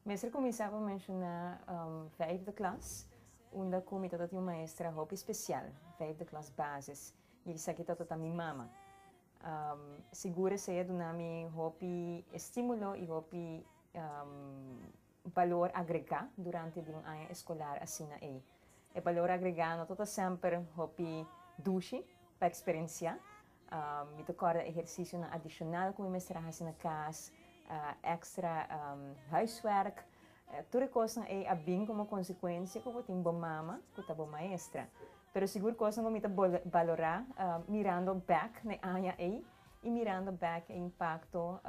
Mester kuminsá pa menshoná vijfde klas, unda ku mi tata tin un maestra hopi spesial, vijfde klas basis, i esaki tatata mi mama. Sigur esei a duna mi hopi estímulo i hopi balor agregá durante di un aña eskolar asina ei. E balor agregá no ta semper hopi dushi pa eksperensiá, Mi ta kòrda ehersisionan adishonal ku mi mester a hasi na kas, èkstra huiswèrk. Tur e kosnan ei a bin komo konsekuensia ku bo tin bo mama ku ta bo maestra. Pero sigur kosnan ku mi ta balorá mirando bèk na e aña ei i mirando bèk e impakto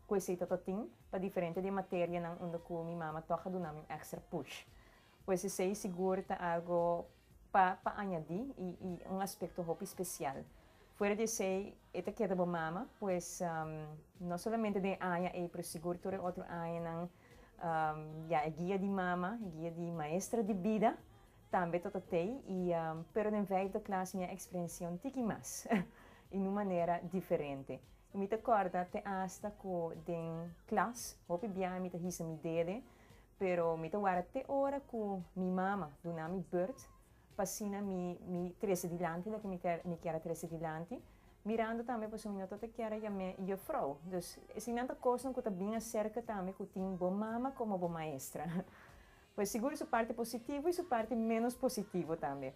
ku esei tabata tin pa diferente di e materianan unda ku mi mama tòg a duna mi un èkstra push. Pues esei sigur ta algo pa pa añadí i i un aspekto hopi spesial. Fuera di esei e ta keda bo mama, pues no solamente den e aña ei pero sigur tur e otro añanan ya e guia di mama, e guia di maestra di bida tambe ta totei i pero den vijfde klas mi a eksperensiá un tiki mas i nun manera diferente. Mi ta kòrda te asta ku den klas hopi biaha mi ta hisa mi dede. Pero mi ta wara te ora ku mi mama duna mi burt pa asina mi mi trese dilanti loke mi kè mi kier a trese dilanti, mirando tambe pasobra mi no ta ta kier a yam'é yefrou. Dus esei nan ta kosnan ku ta bin aserka tambe ku tin bo mama komo bo maestra. Pues sigur su parti positivo i su parti ménos positivo tambe.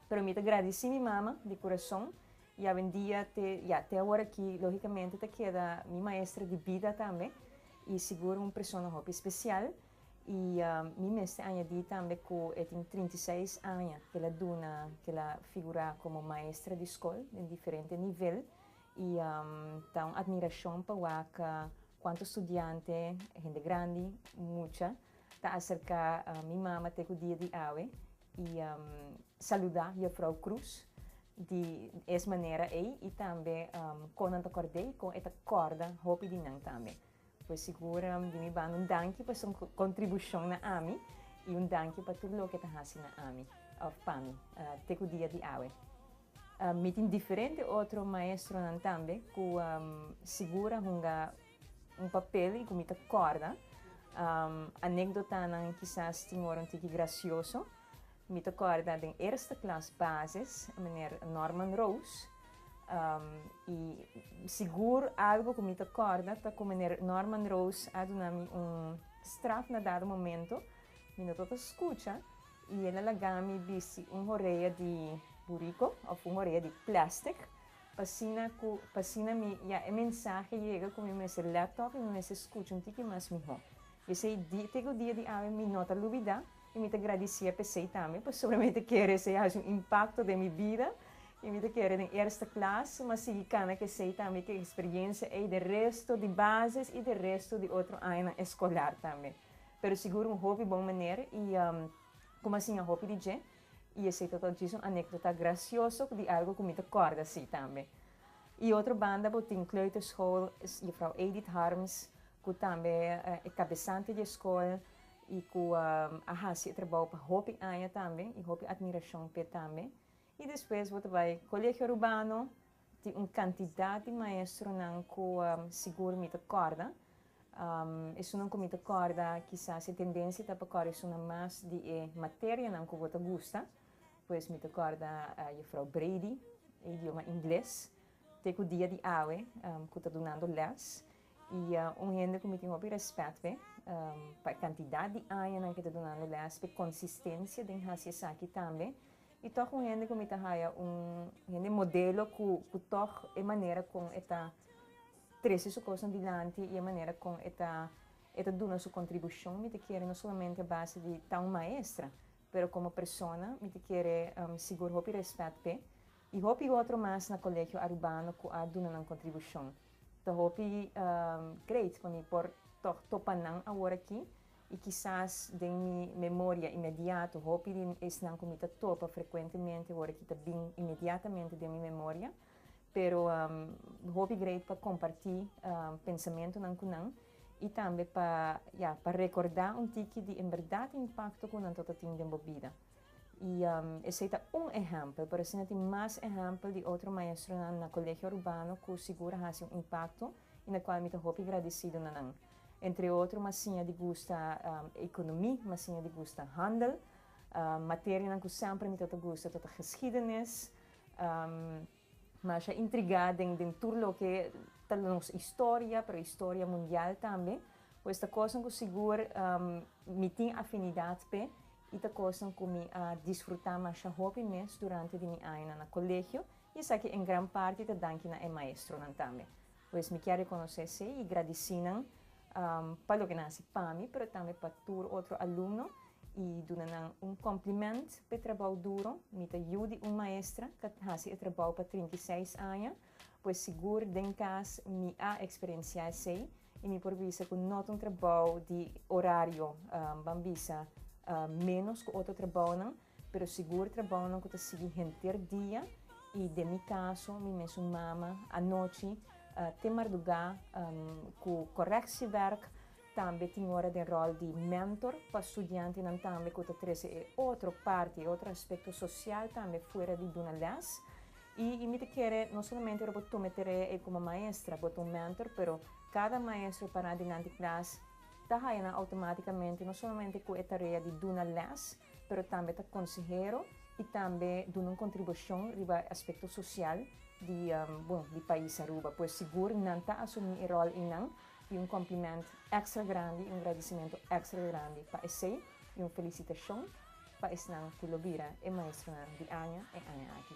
Pero mi ta gradisí mi mama di kurason i awendia te ya te awor ki lógikamente ta keda mi maestra di bida tambe i sigur un persona hopi spesial i mi mester añadí tambe ku e tin trinta i seis aña ke el a duna ke el a figurá komo maestra di skol den diferente nivel i ta un atmirashon pa waka kuantu studiante hende grandi mucha ta aserká mi mama te ku dia di awe I saluda Jefrou Croes di es manera ey y tambe con nan ta cordey con e ta corda hopi di nan tambe. Pues sigur di mi banda un danki pa su contribucion na ami y un danki pa tur loke ta haci na ami of pami te cu dia di awe. Mi tin diferente otro maestronan tambe cu sigur a hunga Un papel y cu mi ta corda anecdotanan kisas tin ora un tiki gracioso. Mi ta corda den eerste klas basis meneer Norman Roos y sigur algo cu mi ta corda ta cu meneer Norman Roos a duna mi un straf na dado momento mi no tabata scucha y el a laga mi bisti un horea di burico of un horea di plastic. P'asina ku p'asina mi ya e mensahe yega ku mi mester lèt tòg i mi mester skucha un tiki mas mihó. P'esei dia te ku dia di awe mi no ta lubidá i mi ta gradisié p'esei tambe pasobra mi ta kere esei hasi un impakto den mi bida i mi ta kere den erste klas mas sigui kana k'esei tambe ku e eksperiensia ei den resto di bases i den resto di otro añanan eskolar tambe. Pero sigur un hopi bon manera i kuma siña hopi di dje. I esei ta tok djis un anekdota grasioso ku di algu ku mi ta kòrda así tambe. I otro banda bo tin kleuterschool Juffrouw Edith Harms ku tambe e kabesante di e skol i ku a hasi e trabou pa hopi aña tambe i hopi admirashon p'e tambe. I despues bo ta bai Colegio Rubano Tin un kantidat di maestronan ku sigur mi ta kòrda. Esunnan ku mi ta kòrda kisas e tendensia ta pa kòrda esunnan mas di e materianan ku bo ta gusta. Pues mi ta kòrda Jufrou Brady, e idioma ingles, te ku dia di awe ku ta dunando lès. I un hende ku mi tin hopi rèspèt pe pa e kantidat di añanan ku e ta dunando lès, pa e konsistensia den hasi esaki tambe. I tòg un hende ku mi ta haya, un hende modelo ku ku tòg e manera kon e ta trese su kosnan dilanti i e manera kon e ta e ta duna su kontribushon mi ta kere no solamente a base di ta un maestra pero komo persona mi ta kere sigur hopi rèspèt p'e i hopi otro mas na Kolegio Arubano ku a duna nan kontribushon. Ta hopi great pa mi por tòg topa nan aworakí I kisas den mi memoria inmediato hopi di esnan ku mi ta topa frekuentemente wòrdu ki ta bin inmediatamente den mi memoria, pero hopi greit pa kompartí pensamentunan ku nan i tambe pa, ya, pa rekordá un tiki di en bèrdat impakto ku nan tota tin den bo bida. I esei ta un ehèmpel, pero asina tin mas ehèmpel di otro maestronan na Colegio Urbano ku sigur a hasi un impakto i na kual mi ta hopi gradisidu na nan. Entre otro Masiña di gusta ekonomi, Masiña di gusta handel, materianan ku semper mi tota gusta tota geskiedenis. Masha intrigá den den tur loke ta nos historia, pero historia mundial tambe. Pues ta kosnan ku sigur mi tin afinidat p'e i ta kosnan ku mi a disfrutá masha hopi mes durante di mi añanan na kolegio i esaki en gran parti ta danki na e maestronan tambe. Pues mi kier reconoce esey y gradici nan pa loke nan haci pa mi pero tambe pa tur otro alumno y duna nan un compliment p'e trabao duro. Mi ta yu di un maestra ca haci e trabao pa trinta i seis aña, pues sigur den cas mi a experiencia esey y mi por bisa cu no ta un trabao di horario, ban bisa, menos cu otro trabaonan. Pero sigur trabounan ku ta sigui henter dia i den mi kaso mi mes un mama anochi te mardugá ku koreksi wèrk, tambe tin ora den ròl di mentor pa studiantenan tambe ku ta trese e otro parti, e otro aspekto sosial tambe fuera di duna lès. I mi ta kere no solamente ora bo tuma e tarea ei komo maestra, bo ta un mentor pero kada maestro e pará dilanti klas ta haya nan outomátikamente no solamente ku e tarea di duna lès, pero tambe ta konsehero i tambe duna un kontribushon riba e aspekto sosial di, bon, di pais Aruba. Pues sigur nan ta asumí e ròl einan i un kòmplimènt èkstra grandi i un gradisimentu èkstra grandi pa esei i un felisitashon pa esnan ku lo bira e maestronan di aña e aña aki.